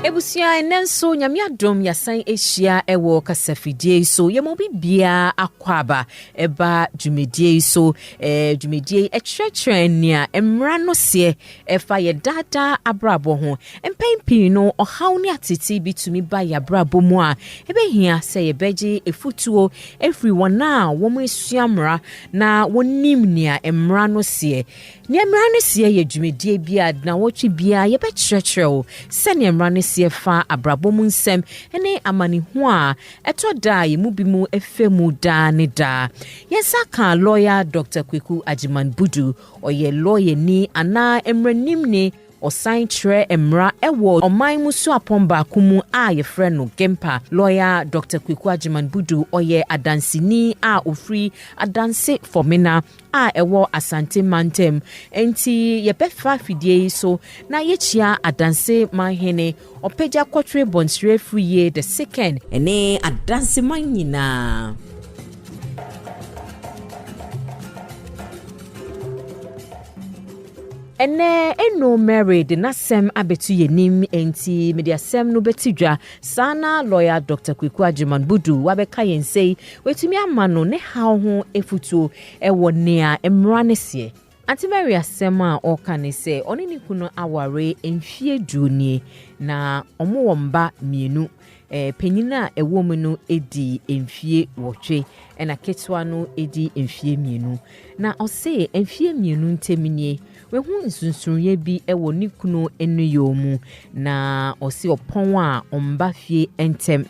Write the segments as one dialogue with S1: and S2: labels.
S1: Ebusua ɛnɛ nso nyame adom yɛasan ahyia ɛwɔ kasafidie yi so yɛma obi biara akɔ aba ɛba dwumadie yi so ɛɛ dwumadie yi ɛkyerɛkyerɛ nea mmara no seɛ ɛfa yɛ daadaa abrabɔ ho mpɛn pii no ɔhaw ne atete bi tumi ba yɛ abrabɔ mu a ɛbɛhia sɛ yɛbɛgye efutuo efiri wɔn a wɔn asua mmara na wɔnim nea mmara no seɛ Nea mmara no seɛ yɛ dwumadie bi a nnawɔtwe biara yɛbɛkyerɛkyerɛ wo sɛdeɛ mmara no seɛ fa abrabɔ mu nsɛm ne amanehuo a ɛtɔ da a yɛn mu binom fa mu daa ne daa. Yɛn nsa ka lɔya Dɔkta Kweku Agyeman Budu. Ɔyɛ lɔyani anaa mmaranimni Ɔsan kyerɛ mmara wɔ ɔman mu suapɔn baako mu a wɔfrɛ no GEMPA. Lɔya Dɔkta Kweku Agyeman Budu, ɔyɛ adanseni a ɔfiri Adanse Fɔmena a ɛwɔ Asante mantam. Enti yɛbɛfa fidie yi so na yɛakyia Adanse manhene Ɔpɛgya kɔtwere bɔnsrɛ firi yie de sekɛn. Ɛne adanseman nyinaa. Ɛnnɛ, Eno Mary de n'asɛm abɛto yɛn anim, enti mede asɛm no bɛti dwa. Saa na lɔya Dɔkta Kweku Agyeman Bodu wabɛka yɛn nsɛyi, watumi ama no ne haw ho afutuo wɔ nea mmara no seɛ. Atimary asɛm a ɔreka ne sɛ ɔne ne kunu aware mfeɛ du nie na wɔwɔ mma mmienu. Eh, panyin a ɛwɔ mu no di mfeɛ wɔtwe ɛna ketewa no di mfeɛ mmienu. Na ɔse mfeɛ mmienu ntam nie wahu nsunsunyɛ bi wɔ ne kunu nnuyɔɔ mu na ɔse ɔpɔn a ɔmba fie ntɛm.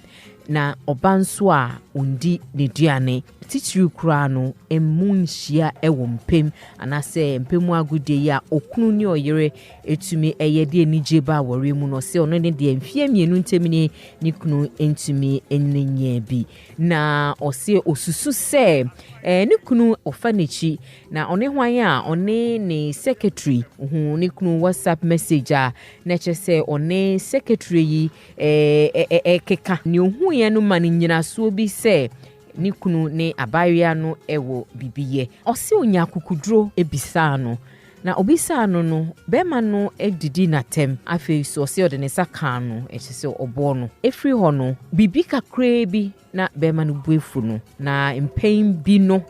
S1: Na ɔba nso a ɔndi n'aduane, titiriw koraa no mmu nhyia wɔ mpam anaasɛ mpam mu agodie yi a okunu ne ɔyere tumi yɛ de anigye ba awɔre mu no, ɔse ɔno ne deɛ mfeɛ mmienu ntam ni ne kunu ntumi ne nyɛ bi. Na ɔse ɔsusu sɛ eh, ne kunu ɔfa n'akyi na ɔne hwan a ɔne ne secretary hu ne kunu whatsapp message a na ɛkyɛ sɛ ɔne secretary yi a ɛkeka nea ohuiɛ no ma no nnyinasoɔ bi sɛ ne kunu ne abaayewa no wɔ biribi yɛ. Ɔse ɔnya akukuduro bisaa no, na obisaa no no, bɛrima no didi n'atɛm, afei nso ɔse ɔde ne nsa kaa no, kyerɛ sɛ ɔbɔɔ no. Ɛfiri hɔ no, biribi kakraa bi Na bɛrima no bu afu no, na mpɛn bi no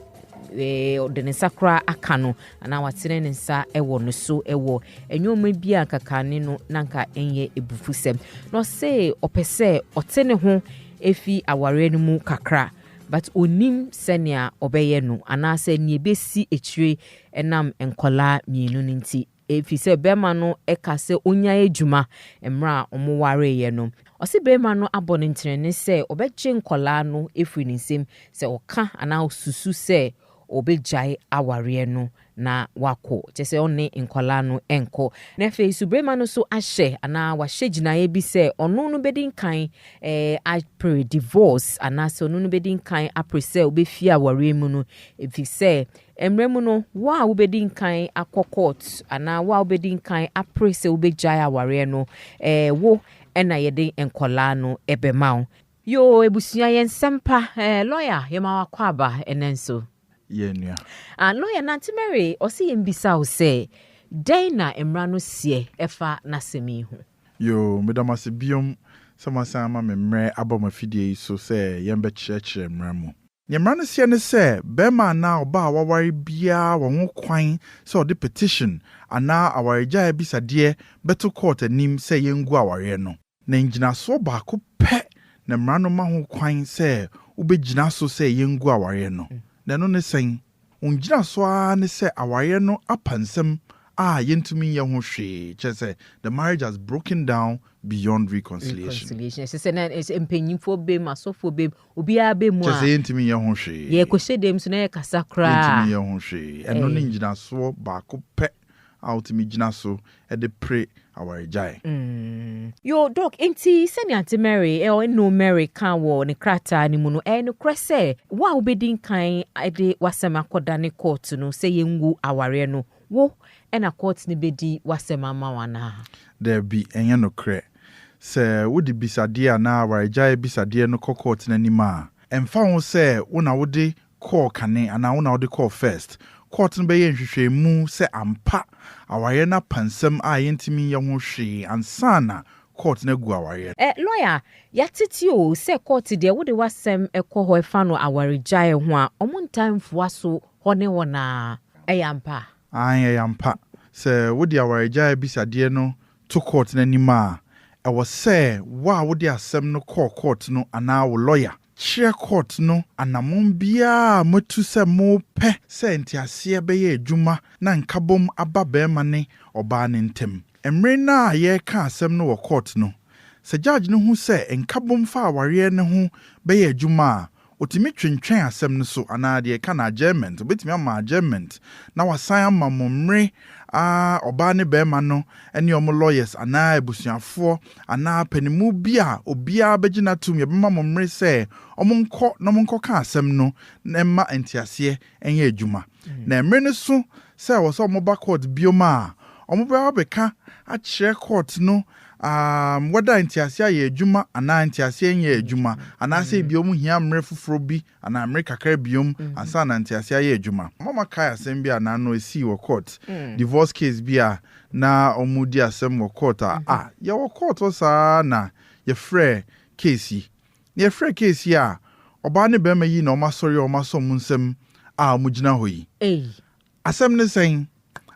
S1: ɔde ne nsa koraa aka no anaa watene ne nsa wɔ no so wɔ nneɛma bi a nkakane no na nka ɛnyɛ ebufusɛm na ɔse ɔpɛ sɛ ɔte ne ho efi awareɛ no mu kakra but onim sɛnea ɔbɛyɛ no anaasɛ nea ebesi akyire ɛnam nkɔlaa mmienu no nti Efisɛ bɛrima no ka sɛ ɔnyae adwuma mmerɛ a wɔwareeɛ no. Ɔse bɛrima no abɔ no ntenene sɛ ɔbɛgye nkwadaa no afiri ne nsam sɛ ɔka anaa ɔsusu sɛ ɔbɛgyae awareɛ no na wakɔ, kyerɛ sɛ ɔne nkwadaa no nkɔ. Na afei nso bɛrima no nso ahyɛ anaa wahyɛ gyinaeɛ bi sɛ ɔno no bɛdi nkan apere divorce anaasɛ ɔno no bɛdi nkan apere sɛ ɔbɛfie awareɛ mu no efisɛ Mmara mu no, wo a wubedi nkan akɔ kɔɔt anaa wo a wubedi nkan apere sɛ wubegyae awareɛ no, ɛɛ wo na yɛde nkwadaa no bɛma wo. Yoo abusua yɛ nsɛm pa eh lɔya yɛma wo akwaaba ɛnɛ nso. Yɛ nua.
S2: Ah lɔya
S1: Nante Mary ɔse yɛn bisa wo sɛ dɛn na mmra no seɛ ɛfa n'asɛm yi ho. Yoo meda mo ase
S2: biom sɛ moasan ama me mmerɛ aba mo afidie yi so sɛ yɛn bɛkyerɛkyerɛ mmra mu. Nea mmara no seɛ ne sɛ barima anaa ɔbaa a waware biara wɔ ho kwan sɛ ɔde petition anaa awaregyae abisadeɛ bɛto kɔɔt anim sɛ yɛngu awareɛ no. Na ngyinasoɔ baako pɛ na mmara no ma ho kwan sɛ wobɛgyina so sɛ yɛngu awareɛ no, na ɛno ne sɛn? Wo ngyinaso ara ne sɛ awareɛ no apa nsɛm a yɛntumi nyɛ ho hwee, kyerɛ sɛ, the marriage has broken down beyond reconciliation. Reconciliation, ɛsɛ sɛ na ɛsɛ
S1: mpanyinfoɔ bem, asɔfoɔ bem, obiara bɛ mu a. Kyerɛ sɛ yɛntumi nyɛ ho hwee.
S2: Yɛkɔhyɛ dɛm nso na
S1: yɛkasa koraa. Yɛntumi nyɛ ho hwee.
S2: Ɛno ne ngyinasoɔ baako pɛ a wotumi gyina so de pere awaregyae.
S1: Yoo, Doc, enti sɛnea Ante Mary, ɛɔ, Enoo Mary kaa wɔ ne krataa no mu no, ɛyɛ nokorɛ sɛ wo a wobɛdi nkan de w'asɛm akɔdane kɔɔto no sɛ yɛngu awareɛ no, wo na kɔɔto no bɛdi w'asɛm ama wo anaa? Daabi,
S2: ɛnyɛ nokorɛ. Sɛ wode bisadeɛ anaa awaregyae bisadeɛ no kɔ kɔɔto no anim a, ɛmfa ho sɛ wo na wode kɔɔ kane anaa wo na wode kɔɔ first. Court no bɛyɛ nhwehwɛmu sɛ ampa awareɛ no apa nsɛm a yɛntumi nyɛ ho hwee ansa na court no agu awareɛ no. Eh lawyer
S1: yɛatete o sɛ court deɛ wode w'asɛm kɔ hɔ ɛfa no awaregyaeɛ ho a ɔmo ntaa mfua so hɔ ne hɔ no ara. Ɛyɛ ampa? Aane ɛyɛ ampa.
S2: Sɛ wode awaregyaeɛ abisadeɛ no to kɔɔt no anim a, ɛwɔ sɛ wo a wode asɛm no kɔɔ kɔɔt no anaa wo lɔya kyerɛ kɔɔt no anammɔn biara a moatu sɛ mopɛ sɛ nteaseɛ bɛyɛ adwuma na nkabom aba barima ne ɔbaa no ntam. Mmere no a yɛreka asɛm no wɔ kɔɔt no, sɛ gyadge no hu sɛ nkabom fa awareɛ no ho bɛyɛ adwuma a, Otumi twentwɛn asɛm no so anaa deɛ ɛka no adjournment, obetumi ama adjournment na wasan ama mo mmere a ɔbaa ne barima no ne wɔn lawyers anaa abusuafoɔ anaa panimu bi a obiara bɛgye no atom yɛbɛma mo mmere sɛ wɔnkɔ na wɔnkɔka asɛm no na ɛmma nteaseɛ nyɛ adwuma. Na mmere no so sɛ ɛwɔ sɛ wɔba kɔɔt bio a, wɔbɛba abɛka akyerɛ kɔɔt no wɛda ntease ayɛ adwuma anaa ntease anyɛ adwuma, anaasɛ ebia wɔhia mmere foforo bi anaa mmere kakra bio ansa na ntease ayɛ adwuma. Mama kae asɛm bi a na ano esii wɔ kɔɔt, divorce case bi a na wɔredi asɛm wɔ kɔɔt a, a, yɛwɔ kɔɔt hɔ saa ara na yɛfrɛɛ case yi Na yɛfrɛ case yi a ɔbaa ne barima yi na wɔn asɔre a wɔn asɔ wɔn nsam a wɔn gyina hɔ yi. Ei. Asɛm ne sɛn?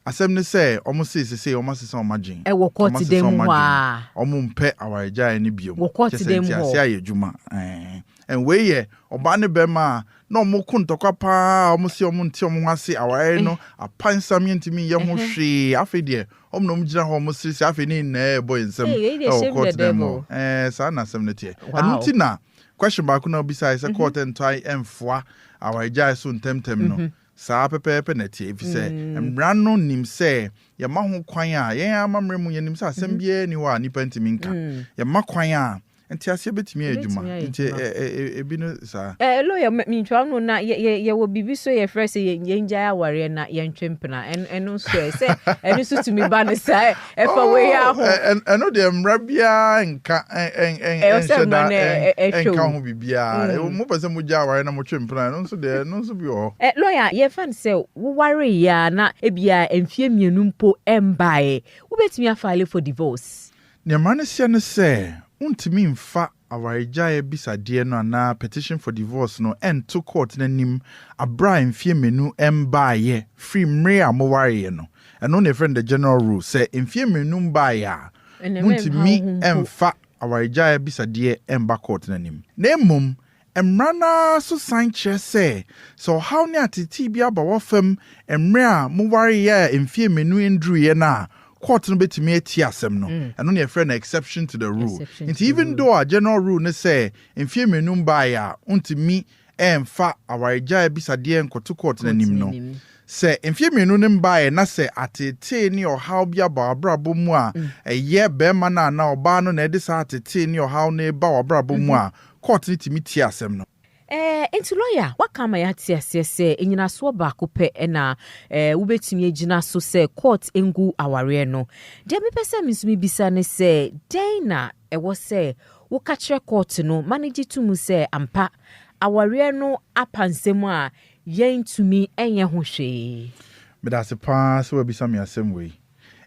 S2: Asɛm ne sɛ wɔn se sesei wɔn asesa wɔn adwen. Ɛwɔ court dan mu
S1: hɔ aa. Wɔn mpɛ
S2: awaregyaeɛ no biom. Wɔ court dan mu hɔ. Kyɛ sɛ
S1: nteaseɛ ayɛ adwuma
S2: ɛɛn. And wei yɛ ɔbaa ne barima a na wɔn ko ntɔkwa paa a wɔn se wɔn nte wɔn ho ase awareɛ no apansam yɛntumi nyɛ ho hwee afei deɛ Wɔn na wɔgyina hɔ, wɔseresere, afei ne nyinaa rebɔ yɛn nsam wɔ court no mu. Ɛɛ, saa na asɛm no teɛ. Ɛno nti na question baako na wobisae sɛ court ntae mfoa awaregyae so ntɛmntɛm no. Saa pɛpɛɛpɛ na ɛteɛ, efisɛ mmara no nim sɛ yɛma ho kwan a, yɛn ara amammerɛ mu, yɛnim sɛ asɛm biara nni hɔ a nnipa ntumi nka. Yɛma kwan a, Nteaseɛ bɛtumi ayɛ adwuma nti ɛbi no saa. Eh lawyer mentwa
S1: no na yɛwɔ biribi so yɛfrɛ sɛ yɛngyae awareɛ na yɛntwe mpena ɛno nso ɛ sɛ ɛno nso tumi ba no saa ɛfa wei a ho ɛno deɛ mmara
S2: biara nka ɛnhyɛ da ɛnka ho biribiara mopɛ sɛ mogya awareɛ na motwe mpena ɛno nso deɛ ɛno nso bi wɔ hɔ ɛ lawyer yɛfa no
S1: sɛ wowareeɛ a na ebia mfeɛ mmienu mpo ɛmbaeɛ wobɛtumi afile for divorce Nea mmara no seɛ
S2: ne sɛ wontumi mfa awaregyae abisadeɛ no anaa petition for divorce no nto kɔɔte no anim berɛ a mfeɛ mmienu mbaeɛ firi mmere a mowareeɛ no. Ɛno na yɛfrɛ no the general rule. Sɛ mfeɛ mmienu mbaeɛ a, montumi mfa awaregyae abisadeɛ mba kɔɔte no anim. Na mmom, Mmara no ara nso san kyerɛ sɛ, sɛ ɔhaw ne ateetee bi aba w'afam mmere a mo wareɛ a mfeɛ mmienu nduruiɛ no a, court no bɛtumi atie asɛm no. Ɛno na yɛfrɛ no exception to the rule. Nti even though a general rule ne sɛ mfeɛ mmienu mbaeɛ a wontumi mfa awaregyae abisadeɛ nkɔto court no anim no, sɛ mfeɛ mmienu no mbaeɛ na sɛ ateetee ne ɔhaw bi aba w'abrabɔ mu a ɛyɛ barima no anaa ɔbaa no na ɛde saa ateetee ne ɔhaw no reba w'abrabɔ mu a, Court no tumi tie asɛm no. Ɛɛ, enti lɔya,
S1: woaka ama yɛate aseɛ sɛ nnyinasoɔ baako pɛ na ɛɛ wobɛtumi agyina so sɛ court ngu awareɛ no. Deɛ mepɛ sɛ me nso mebisa ne sɛ, dɛn na ɛwɔ sɛ woka kyerɛ court no ma no gye to mu sɛ ampa awareɛ no apa nsɛm a yɛntumi nyɛ ho hwee? Meda ase pa
S2: ara sɛ woabisa me asɛm wei.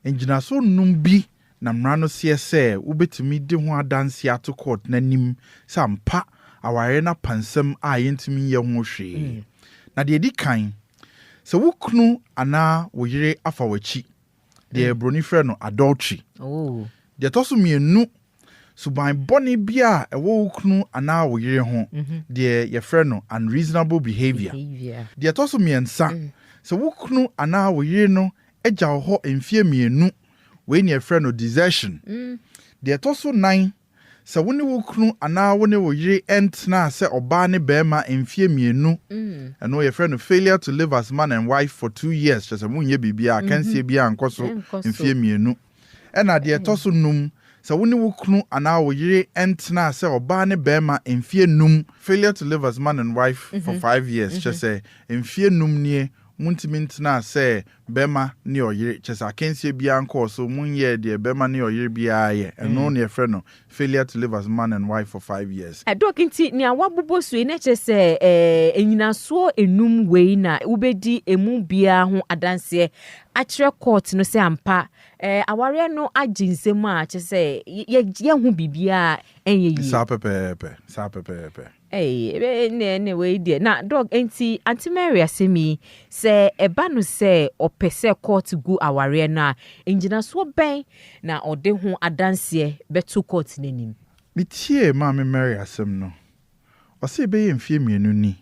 S2: Nnyinasoɔ nnum bi Na mmara no seɛ sɛ wobɛtumi de ho adanseɛ ato kɔɔt no anim sɛ ampa awareɛ no apa nsɛm a yɛntumi nyɛ ho hwee. Na deɛ ɛdi kan, sɛ wo kunu anaa wo yere afa w'akyi, deɛ buroni frɛ no adultery. Deɛ ɛtɔ so mmienu, suban bɔne bi a ɛwɔ wo kunu anaa wo yere ho, deɛ yɛfrɛ no unreasonable behaviour. Deɛ ɛtɔ so mmiɛnsa, sɛ wo kunu anaa wo yere no agya wo hɔ mfeɛ mmienu Wei na yɛfrɛ no desertion. Deɛ ɛtɔ so nnan, sɛ wo ne wo kunu anaa wo ne wo yere ntenaa sɛ ɔbaa ne barima mfeɛ mmienu, ɛno yɛfrɛ no failure to live as man and wife for two years, kyerɛ sɛ monyɛ biribiara, akansie biara nkɔ so mfeɛ mmienu. Ɛna deɛ ɛtɔ so num, sɛ wo ne wo kunu anaa wo yere ntenaa sɛ ɔbaa ne barima mfeɛ num, failure to live as man and wife for five years, kyerɛ sɛ mfeɛ num nie montumi ntenaa sɛ bɛma ne ɔyere, kyerɛ sɛ akansie biara nkɔɔ so, monyɛɛ deɛ bɛma ne ɔyere biara yɛ, ɛno na yɛfrɛ no failure to live as man and wife for five years. Doc, nti nea
S1: woabobɔ so yi na ɛkyerɛ sɛ ɛɛ nnyinasoɔ nnum wei na wobɛdi ɛmu biara ho adanseɛ akyerɛ court no sɛ ampa ɛɛ awareɛ no agye nsam a kyerɛ sɛ yɛ yɛho biribiara a ɛnyɛ yie? Saa pɛpɛɛpɛ,
S2: saa pɛpɛɛpɛ. Ei ɛnneɛ
S1: ɛnneɛ wei deɛ na dɔg nti Aunty Mary asɛm yi sɛ ɛba no sɛ ɔpɛ sɛ court gu awareɛ no a ngyinasoɔ bɛn na ɔde ho adanseɛ bɛto court no anim? Me tiee maame
S2: Mary asɛm no, ɔse bɛyɛ mfeɛ mmienu ni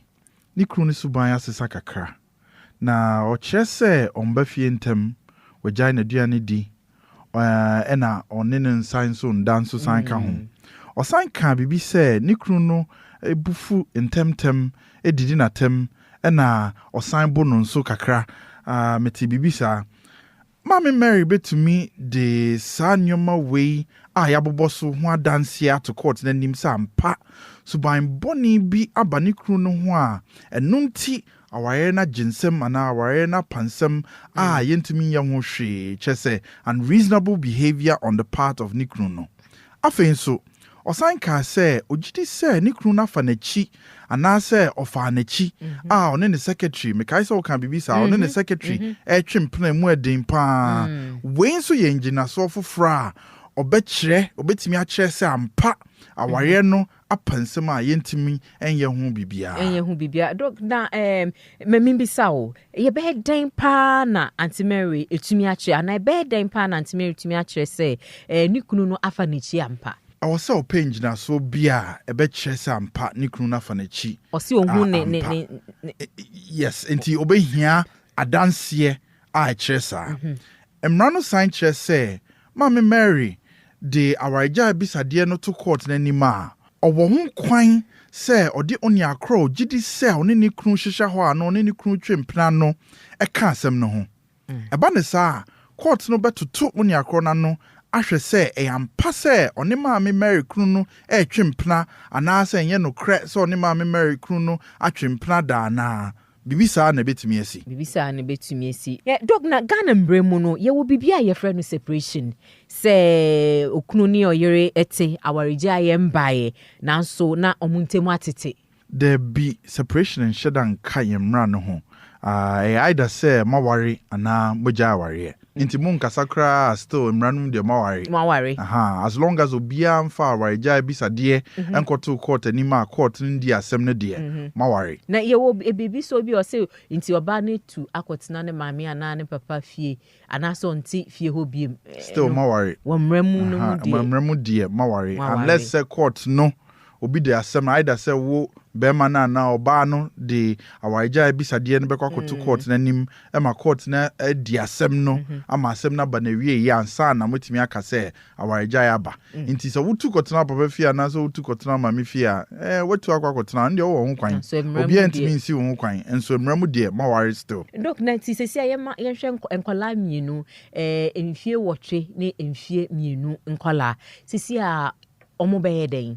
S2: ne kunu no suban asesa kakra. Na ɔkyerɛ sɛ ɔmba fie ntɛm, ɔagyae n'aduane di, ɛnna ɔne no nsa nso nda nso san ka ho. Ɔsan kaa biribi sɛ ne kunu no bo fu ntɛmntɛm, didi no atɛm, ɛnna ɔsan bo no nso kakra. Metee biribi saa. Maame Mary betumi de saa nneɛma wei a yɛabobɔ so ho adanse ato kɔɔte no anim sɛ ampa suban bɔne bi aba ne kunu no ho a ɛno nti awareɛ no agye nsam anaa awareɛ no apa nsam a yɛntumi nyɛ ho hwee, kyerɛ sɛ, unreasonable behavior on the part of ne kunu no. Afei nso, ɔsan kaa sɛ ogye di sɛ ne kunu no afa n'akyi anaasɛ ɔfaa n'akyi a ɔne ne secretary, mekae sɛ wokaa biribi saa, ɔne ne secretary retwe mpena a emu yɛ den pa ara. Wei nso yɛ ngyinasoɔ foforɔ a ɔbɛkyerɛ, ɔbɛtumi akyerɛ sɛ ampa awareɛ no apa nsɛm a yɛntumi nyɛ ho biribiara. Nyɛ ho biribiara. Dɔk, na ɛɛm,
S1: ma mimmisa wo, yɛbɛyɛ dɛn paa na Aunty Mary atumi akyerɛ, anaa ɛbɛyɛ dɛn paa na Aunty Mary atumi akyerɛ sɛ ɛɛ, ne kunu no afa n'akyi ampa? Ɛwɔ sɛ ɔpɛ
S2: ngyinasoɔ bi a ɛbɛkyerɛ sɛ ampa ne kunu no afa n'akyi Ɔse ɔhu a, ne, ne, ampa. ne,
S1: ne. Yes,
S2: enti ɔbɛhia adanseɛ a ɛkyerɛ saa. Mmara no san kyerɛ sɛ Maame Mary de awaregyae abisadeɛ no to kɔɔt no anim a, ɔwɔ ho kwan sɛ ɔde onua korɔ a ɔgye di sɛ ɔne ne kunu hyehyɛ hɔ a na ɔne ne kunu twe mpena no ka asɛm no ho. Ɛba no saa a, kɔɔt no bɛtoto onua korɔ no ano ahwɛ sɛ ɛyɛ ampa sɛ ɔne Maame Mary kunu no retwe mpena anaasɛ ɛnyɛ nokorɛ sɛ ɔne Maame Mary kunu no atwe mpena da anaa. Biribi saa na ɛbɛtumi asi. Biribi saa na ɛbɛtumi asi. Ɛ, Dɔk, na
S1: Ghana mmara mu no, yɛwɔ biribi a yɛfrɛ no separation. Sɛ okunu ne ɔyere te, awaregyaeɛ mmaeɛ, nanso na wɔn ntam atete. Dabi,
S2: separation nhyɛ da nka yɛn mmara no ho. Aa, ɛyɛ either sɛ moaware anaa moagyae awareɛ. Nti mo nkasa koraa a still mmara no mu deɛ mo aware. Mo aware. Ahaa as long as obiara nfa awaregyae abisadeɛ nkɔto court anim a court no ndi asɛm no deɛ mo aware. Na yɛ wɔ biribi
S1: sɛ obi ɔse nti ɔbaa no atu akɔ tena ne maame anaa ne papa fie anaa sɛ ɔnte fie hɔ biom no wɔ mmara
S2: mu no mu
S1: deɛ. Wɔ mmara mu deɛ mo aware
S2: unless sɛ court no Obi de asɛm no either sɛ wo barima no anaa ɔbaa no de awaregyae abisadeɛ no bɛkɔ akɔto kɔɔt no anim ma kɔɔt no adi asɛm no ama asɛm no aba n'awieeɛ ansa na moatumi aka sɛ awaregyae aba. Nti sɛ wotu kɔtena papa fie anaasɛ wotu kɔtena maame fie a, eh, woatu akɔ akɔtena, ɛno deɛ wowɔ ho kwan. Nanso mmara mu Obiara deɛ. ntumi nsi wo ho kwan. Nso mmara mu deɛ, moaware still. Doc, na nti seesei a
S1: yɛma yɛnhwɛ nkɔ nkwadaa mmienu, eh, mfie nwɔtwe ne mfie mmienu nkwadaa, seesei a Wɔbɛyɛ dɛn?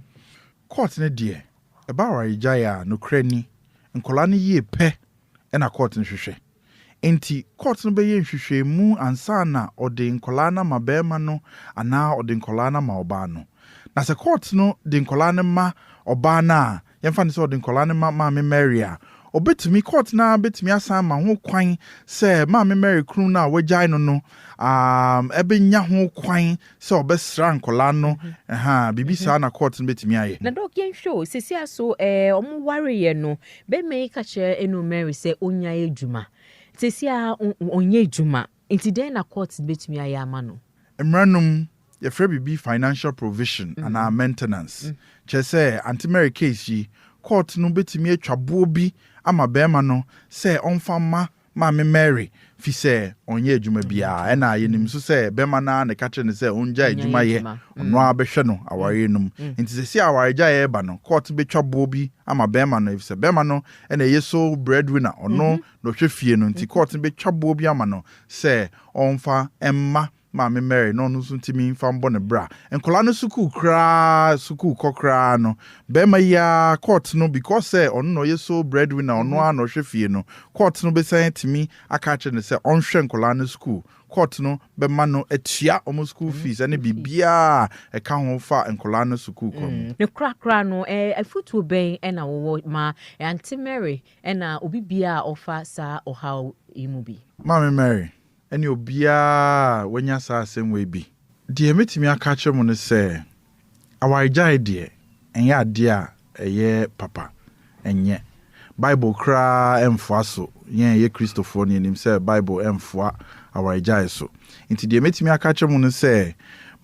S1: Court no
S2: deɛ ɛba awaregyaeɛ a nokorɛ ni nkwadaa no yie pɛ na court no hwehwɛ. Enti court no bɛyɛ nhwehwɛmu ansa na ɔde nkwadaa no ama barima no anaa ɔde nkwadaa no ama ɔbaa no. Na sɛ court no de nkwadaa no ma ɔbaa no a, Yɛmfa no sɛ ɔde nkwadaa no ma Maame Mary a, obetumi, court no ara betumi asan ma ho kwan sɛ Maame Mary kunu no a wagyae no no um, ɛbɛnya ho kwan sɛ ɔbɛsra nkwadaa no. Ɛha, mhm. biribi mhm. saa na court no betumi ayɛ. Na dɔk yɛnhwɛ o, sisi
S1: aso ɛɛ eh, wɔn wareɛ no, bɛrima yi ka kyerɛ ɛnu Mary sɛ ɔnyae adwuma. Sisi a ɔnyɛ adwuma, Nti dɛn na courts betumi ayɛ ama no? Mmara no mu,
S2: yɛfrɛ biribi financial provision anaa maintenance. Kyerɛ sɛ, Aunty Mary case yi, court no betumi atwa boɔ bi ama barima no sɛ ɔmfa mma Maame Mary fisɛ ɔnyɛ adwuma biara. Ɛna yɛnim nso sɛ barima no ara na ɛka kyerɛ no sɛ ɔngyae adwuma yɛ, ɔno ara bɛhwɛ no awareɛ no mu. Nti seesei a awaregyaeɛ reba no, court betwa boɔ bi ama barima no efisɛ barima no na ɛyɛ sole breadwinner, ɔno na ɔhwɛ fie no nti court no bɛtwa boɔ bi ama no sɛ ɔmfa mma maame Mary na ɔno nso ntumi mfa mbɔ ne bra. Nkwadaa no sukuu koraa sukuu kɔ koraa no barima yi ara court no because sɛ ɔno na ɔyɛ sole breadwinner ɔno ara na ɔhwɛ fie no court no bɛsan atumi aka akyerɛ no sɛ ɔnhwɛ nkwadaa no sukuu court no bɛma no atua wɔn sukuu fees ne biribiara a ɛka ho fa nkwadaa no sukuu kɔ no. Ne korakora no,
S1: afotuo bɛn na wowɔ ma Aunty Mary Ɛna obi biara a ɔfa saa ɔhaw yi mu bi. Maame Mary,
S2: ɛne obiara a wanya saa asɛm wei bi. Deɛ mɛtumi aka akyerɛ mo ne sɛ, awaregyaeɛ deɛ, ɛnyɛ adeɛ a ɛyɛ papa. Ɛnyɛ. Bible koraa ɛmfoa so. Yɛn a yɛyɛ Kristofoɔ no, yɛnim sɛ Bible ɛmfoa awaregyaeɛ so. Nti deɛ mɛtumi aka akyerɛ mo ne sɛ,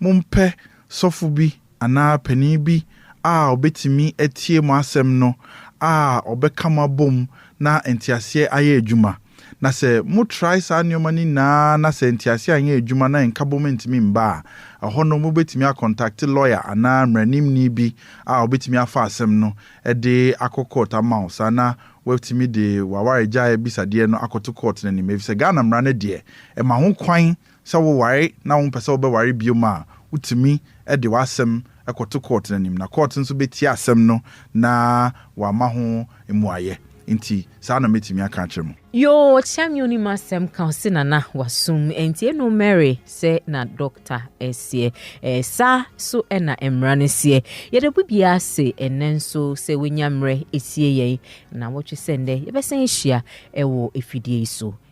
S2: mompɛ sɔfo bi anaa panin bi a ɔbɛtumi atie mo asɛm no a ɔbɛka mo abom na nteaseɛ ayɛ adwuma. Na sɛ mo trae saa nneɛma no nyinaa na sɛ nteaseɛ anyɛ adwuma na nkabom ntumi mma a, ɛhɔ no mobɛtumi akɔntakte lɔya anaa mmaranimni bi a ɔbɛtumi afa asɛm no de akɔ kɔɔt ama wo saa na woatumi de w'awaregyaeɛ abisadeɛ no akɔto kɔɔt no anim efisɛ Ghana mmara no deɛ ɛma ho kwan Sɛ woware na wompɛ sɛ wobɛware bio a, wotumi de w'asɛm kɔto kɔɔt no anim, na kɔɔt nso bɛtie asɛm no na wɔama ho mmuaeɛ. Enti saa na mɛtumi aka akyerɛ mo. Yoo ɔkyea me onim
S1: asɛm ka ɔse nana wasum ɛntie no mary sɛ na dɔkta seɛ ɛɛ saa so ɛna mmra no seɛ yɛda bibia ase ɛnɛ nso sɛ wanya mmerɛ ɛtie yɛn na wɔtwe sɛ ndɛ yɛbɛsɛn ahyia ɛwɔ ɛfidie yi so